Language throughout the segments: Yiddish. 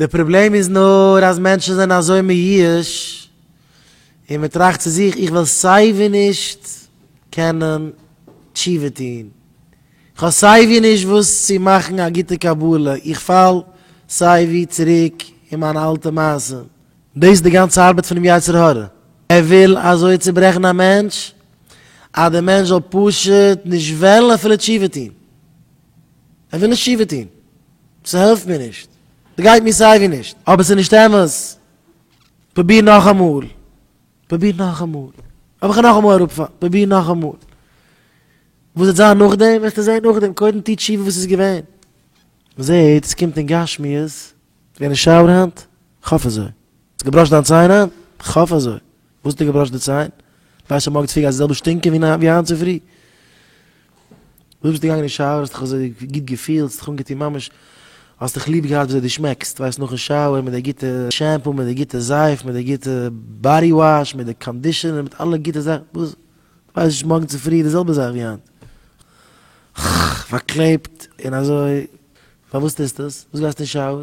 די פראבלעם איז נאר אז מענטשן זענען אזוי מיואש און מען טראכט צו זיך, איך וועל סיי ווי נישט קענען תשובה טון, איך האב סיי ווי נישט וואס צו מאכן א גוטע קבלה, איך פאל סיי ווי צוריק אין מיינע אלטע מעשים. דאס איז די גאנצע ארבעט פונעם יצר הרע, ער וויל אזוי צוברעכן א מענטש אז דער מענטש זאל פשוט נישט וועלן אפילו תשובה טון, ער וויל נישט תשובה טון. ס'העלפט מיר נישט. ס'גייט מיר סייווי נישט. אבער ס'נישט אמת. פרוביר נאכאמאל. פרוביר נאכאמאל. האב איך נאכאמאל אראפפאלן. פרוביר נאכאמאל. וואס וועט זיין נאכדעם וועסטו זען נאכדעם. קודם טו תשובה וואס איז געווען. מ'זעט ס'קומט אין גשמיות. ס'געווען אין שאוער היינט? כ'האף אזוי. האסט געבראשן דיין ציין היינט? כ'האף אזוי. וואס האט ער געבראשט די ציין? ווייסט שוין מארגן צופרי גייט עס די זעלבע שטינקען ווי ווי היינט צופרי. דו ביסט געגאנגען אין שאוער האסט דיך אזוי גוט געפילט, האסט דיך אנגעטון ממש, האסט דיך ליב געהאט ווי אזוי דו שמעקסט, ווייסט נאכן שאוער מיט די גוטע שעמפו, מיט די גוטע זייף, מיט די גוטע באדי וואש, מיט די קאנדישענער, מיט אלע גוטע זאכן, וואס? ווייסט נישט מארגן צופרי די זעלבע זאך ווי היינט. חח, פארקלעבט און אזוי. פארוואס טוסטו עס? וואס גייסטו אין שאוער?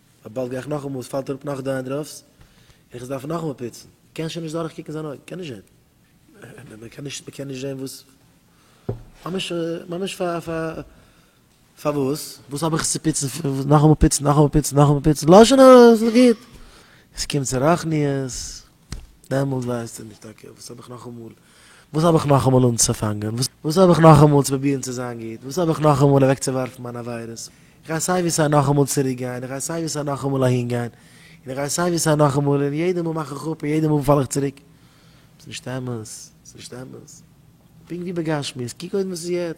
אבער באלד גיי איך נאכאמאל עס פאלט אראפ נאך דענדראף'ס און איך עס דארף נאכאמאל פיצן, קען שוין נישט דורך קוקן זיין אויג, קען נישט זען, מען קען נישט מען קען נישט זען וואס, ממש ממש פאר פאר פארוואס, וואס האב איך עס צו פיצן פון וואס נאכאמאל פיצן נאכאמאל פיצן נאכאמאל פיצן, לאזשענער עס איז גוט, עס קומט צו רחניות. דעמאלט ווייסטו נישט טאקע וואס האב איך נאכאמאל, וואס האב איך נאכאמאל אנצופאנגען, וואס האב איך נאכאמאל צו פרובירן צו זיין גוט, וואס האב איך נאכאמאל אוועקצואווארפן מיינע עבירות, איך גיי סיי ווי סיי נאכאמאל צוריק גיין, איך גיי סיי ווי סיי נאכאמאל אהין גיין, און איך גיי סיי ווי סיי נאכאמאל, און יעדע מאל מאך איך אפ און יעדע מאל פאל איך צוריק. ס'נישט אמת, ס'נישט אמת. פונקט ווי בגשמיות, קוק אויס וואס איז יעצט.